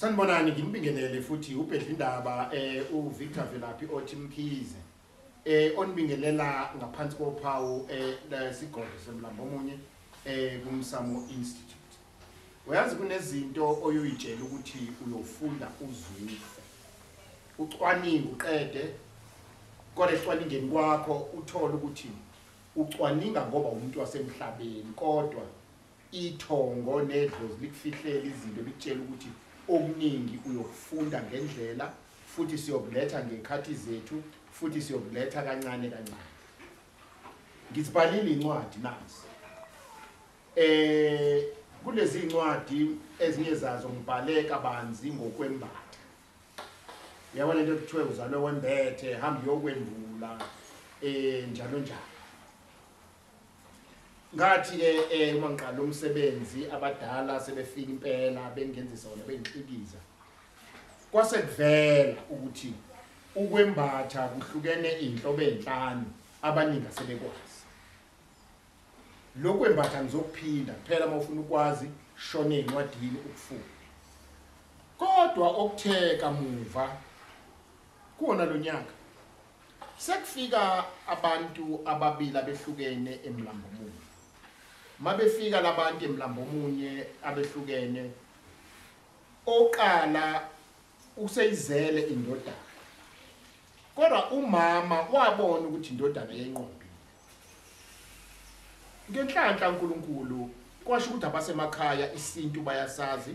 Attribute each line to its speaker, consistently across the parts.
Speaker 1: Sanibonani ngimbingelele futhi ubhedla indaba eh uVictor Velaphi othi Mkhize eh onibingelela ngaphansi kophawu eh lesigodlo semlambo omunye eh kumsamo institute uyazi kunezinto oyoyitshela ukuthi uyofunda uzwile ucwaningo uqede kodwa ecwaningeni kwakho uthole ukuthi ucwaninga ngoba umuntu wasemhlabeni kodwa Ithongo nedlozi likufihlela izinto likutshela ukuthi okuningi uyokufunda ngendlela futhi siyokuletha ngekhathi zethu futhi siyokuletha kancane kancane ngizibhalile incwadi nazi eh kulezi incwadi ezinye zazo ngibhale kabanzi ngokwembatha yabo lento kuthiwe uzalwe wembethe hamba yokwembula eh njalo njalo ngathi ke eh uma ngiqala umsebenzi abadala sebefika impela bengenzisa wona bengixhikiza kwase kuvela ukuthi ukwembatha kuhlukene inhlobo ezinhlanu abaningi asebekwazi lokwembatha ngizokuphinda kuphela uma ufuna ukwazi shone incwadini ukufuna kodwa okutheka muva kuona lonyaka Sekufika abantu ababili abehlukene emlambo omunye. Mabefika labantu emlambo omunye abehlukene oqala useyizele indodana. Kodwa umama wabona ukuthi indodana yenqombile. Ngenhlanhla uNkulunkulu kwasho ukuthi abasemakhaya isintu bayasazi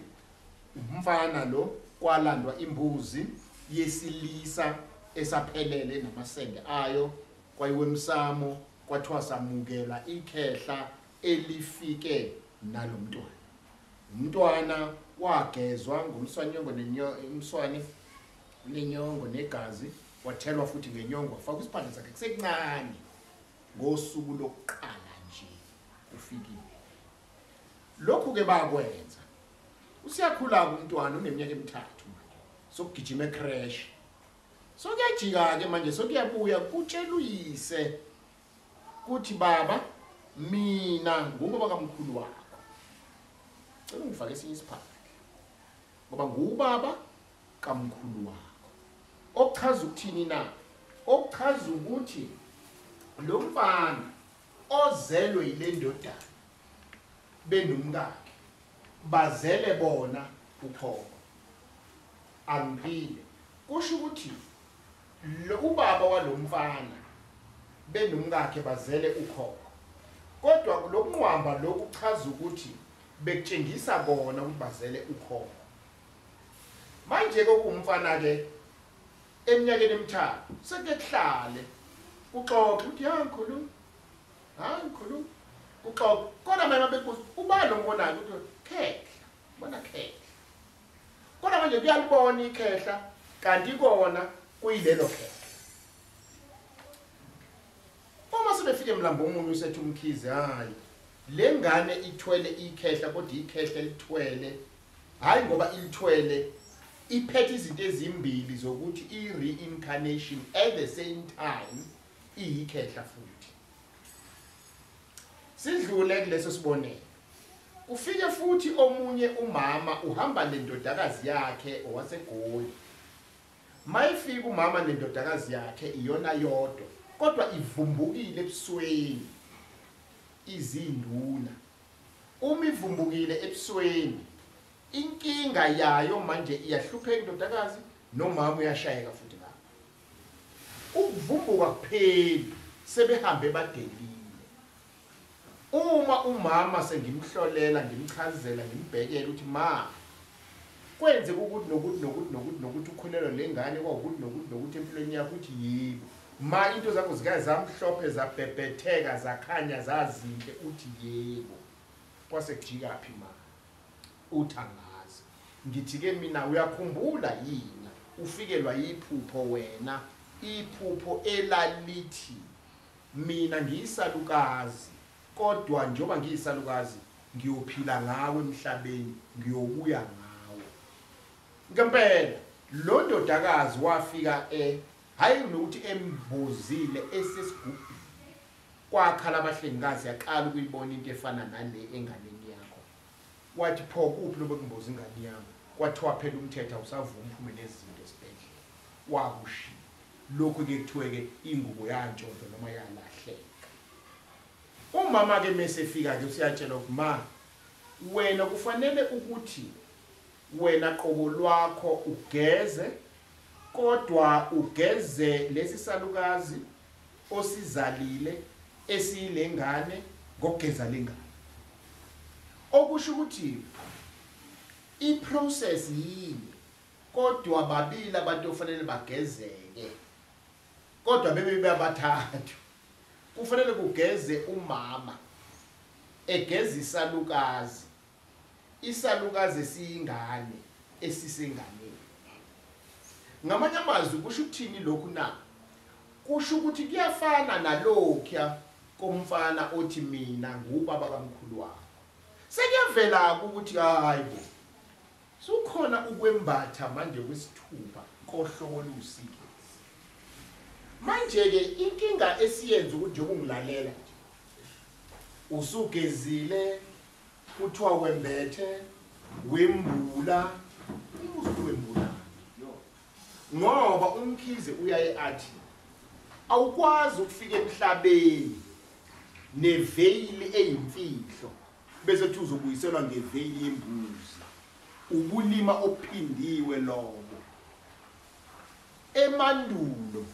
Speaker 1: umfana lo kwalandwa imbuzi yesilisa esaphelele namasende ayo kwayiwemsamo kwathiwa samukela ikhehla elifike nalomntwana umntwana wagezwa ngomswanyongo nenyongo umswane nenyongo negazi Wathelwa futhi ngenyongo wafaka isibhadla sakhe kusekuncane ngosuku lokuqala nje ufikile. Lokhu ke bakwenza. Usiyakhula umntwana uneminyaka emithathu manje. Sokugijima ecrash. Sokuyajika ke manje sokuyabuya kutshela uyise kuthi baba mina ngubo bakamkhulu wakho. Cela ungifake esinye isiphandla. Ngoba ngubaba kamkhulu wakho okuchaza ukuthini na okuchaza ukuthi lo mfana ozelwe yile ndodana benomkakhe bazele bona ukhokho angiphile kusho ukuthi lo ubaba walomfana benomkakhe bazele ukhokho kodwa lokunqwamba lokuchaza ukuthi bekutshengisa kona ukuthi bazele ukhokho Manje-ke okuwumfana-ke eminyakeni emithathu sekuke kuhlale kuxoxe ukuthi ya ngikhuluma hayi ngikhuluma kuxoxe kodwa manje babekuza ubani ombonayo ukuthi khehla bona khehla kodwa manje kuyalibona ikhehla kanti kona kuyilelo khehla uma sebefike mlambo omunye usethi umkhize hayi le ngane ithwele ikhehla kodwa ikhehla elithwele Hayi ngoba imthwele iphethe izinto ezimbili zokuthi i-reincarnation at the same time iyikhehla futhi sidlule kuleso sibonelo kufike futhi omunye umama uhamba nendodakazi yakhe owasegoli mayifika umama nendodakazi yakhe iyona yodwa kodwa ivumbukile ebusweni izinduna Uma ivumbukile ebusweni inkinga yayo manje iyahlupheka indodakazi nomama uyashayeka futhi ngapha ukuvumbuka kupheli sebehambe badelile uma umama sengimhlolela ngimchazela ngimbhekele ukuthi ma Kwenzeka ukuthi nokuthi nokuthi nokuthi nokuthi ukhulelwa nengane kwawukuthi nokuthi nokuthi empilweni yakho uthi yebo. Ma into zakho zikaya zamhlophe zabhebhetheka zakhanya zazinhle uthi yebo. Kwase kujikaphi ma? Uthi angazi. Ngithi ke mina uyakhumbula yini ufikelwa yiphupho wena iphupho elalithi mina ngiyisalukazi Kodwa njengoba ngiyisalukazi, ngiyophila ngawo emhlabeni, ngiyobuya ngawo. Ngempela, lo ndodakazi wafika e, hhayi nokuthi embozile, esesigubhini. Kwakhala abahlengikazi, yaqala ukuyibona into efana nale enganeni yakho. Wathi, Pho, kuphi lobu ekumboza ingane yami? Kwathiwa, Phela umthetho awusavumi uphume nezinto esibhedlela. Wakushiya. Lokhu-ke kuthiwe-ke ingubo yantshontshwa noma yalahleka. Umama ke mesefika ke usiyatshelwa ukuthi ma wena kufanele ukuthi wena qobo lwakho ugeze kodwa ugeze lesi salukazi osizalile esiyilengane ngokugeza lengane okusho ukuthi iprocess yini kodwa babili abantu ofanele bagezeke Kodwa bebe babathathu. Kufanele kugeze umama egeza isalukazi. Isalukazi esiyingane esisenganeni. Ngamanye amazwi kusho ukuthini lokhu na? Kusho ukuthi kuyafana nalokho komfana othi mina ngubaba kamkhulu wakho. Sekuyavela ukuthi hayi bo. Sukhona ukwembatha manje kwesithupha kohlobo oluwusikisi. Manje-ke inkinga esiyenza ukuthi njengoba ungilalela nje, usugezile, kuthiwa wembethe, wembula, umbuzo uthi wembula. Ngoba umkhize uyaye athi, awukwazi ukufika emhlabeni neveyili eyimfihlo Bese kuthi uzobuyiselwa ngeveyili yembuzi. Ubulima obuphindiwe lobo. Emandulo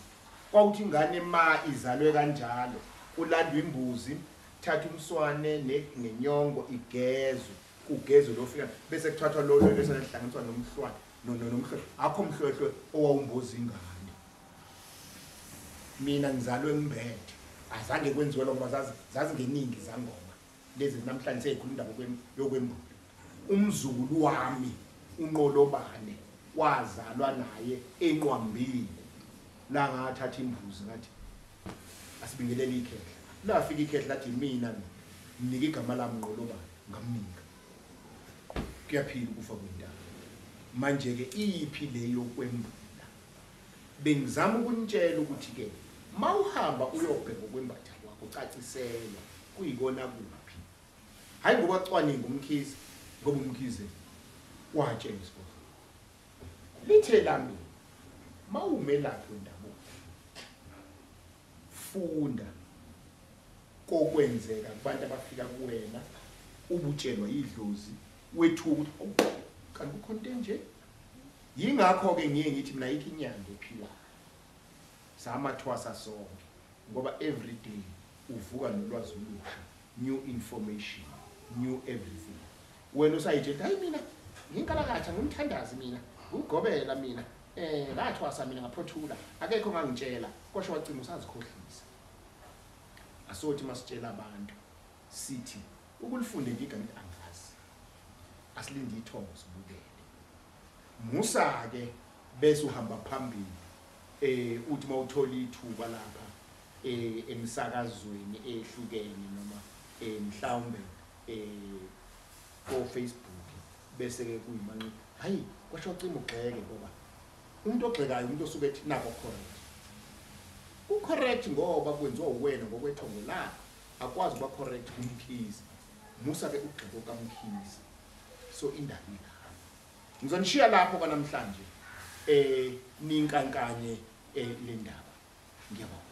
Speaker 1: kwawuthi ingane ma izalwe kanjalo kulandwa imbuzi thatha umswane nenyongo igezwe kugezwe lofika bese kuthathwa lolo bese lihlanganiswa nomhlwane nomhlwehlwe akho mhlwehlwe owawumboza ingane mina ngizalwe ngimbethe azange kwenziwe lokho zazingeningi zangoma lezi namhlanje seyikhuluma indaba yokwembula umzukulu wami unqolobane wazalwa naye enqwambile la ngathatha imbuzi ngathi asibingelele ikhehla lafika ikhehla lathi mina nginika igama lami nqolobane ngamnika kuyaphila ukufa kwendaba manje-ke iyiphi le yokwembula Bengizama ukunitshela ukuthi ke mawuhamba uyobheka ukwembatha kwakho ucaciselwa kuyikona kuphi. Hayi ngoba cwaninga umkhize ngoba umkhize watshela isigodlo. Lithe lami mawumelaphi wendabuko funda kokwenzeka kubantu abafika kuwena ubutshelwa idlozi wethuka kanti kukhona into enje Yingakho-ke ngiye ngithi mina ayikho inyanga ephilayo. Samathwasa sonke ngoba every day uvuka nolwazi olusha, new information, new everything. Wena usayithetha hayi mina nginkalakatha ngumthandazi mina, ngugobela mina. Eh ngathwasa mina ngaphothula, akekho ngangitshela, kosho wacima usazikhohlisa. Asothi masitshela abantu sithi ukulifunda nje igama angazi. Asilinde ithongo sibukele. Musa ke bese uhamba phambili eh uthi mawuthola ithuba lapha eh emsakazweni ehlukene noma eh mhlawumbe eh ko Facebook bese ke kuyimanqi hayi kwasho cimo gxeke ngoba umuntu ogxekayo umuntu osuke ethi nako correct u correct ngoba kwenziwa uwena ngokwethongo lakho akwazi uba correct kumkhizi musa ke ugxeko kamkhizi so indaba ilapho ngizonishiya lapho kwanamhlanje eh ninkankanye eh, le ndaba ngiyabonga